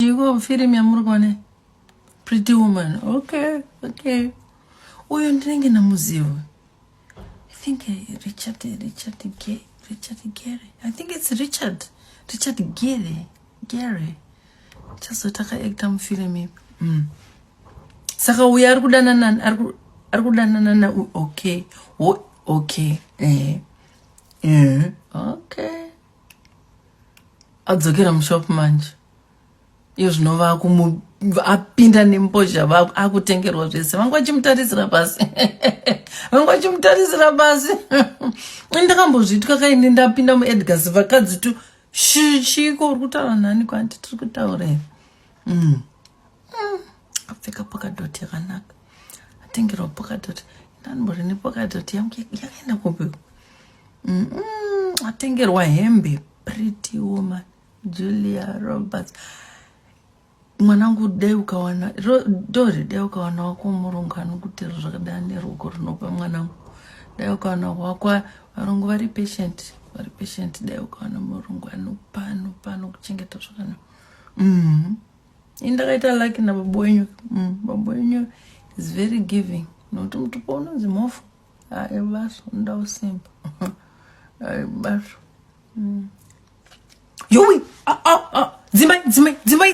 Ndiko mfilm yamuri kuona pretty woman okay okay uyo ndinenge namuziva i think eh, richard eh, richard ge richard gere i think it's richard richard gere gere chazoita kaacta mufilm ipi mm. saka uyo ari kudanana ari kudanana na okay okay eh. eh. okay adzokera mushop manje iyo zvino vakuapinda nembozha akutengerwa zvese vanga vachimutarisira pasi vanga vachimutarisira pasi ndakambozvitwa kaini ndapinda muedgars vakadzi tu chiiko uri kutaura nani kwanti tiri kutaura here mm. mm. apfeka pokadoti yakanaka atengerwa pokadoti ndanimbori nepokadoti yangu yakaenda kupi atengerwa hembe pretty woman julia roberts mwanangu dai ukawana dori dai ukawana wako murungu anokuti zvakadai neruoko rinopa mwanangu dai ukawana wako varungu vari patient vari patient dai ukawana murungu anopa anopa anokuchengeta zvakanaka mm-hmm. indakaita lucky nababa wenyu mm, baba wenyu is very giving nokuti mutupo unonzi mhofu ae baso unoda usimba ae baso mm. yowi ah, ah, ah. dzimai dzimai dzimai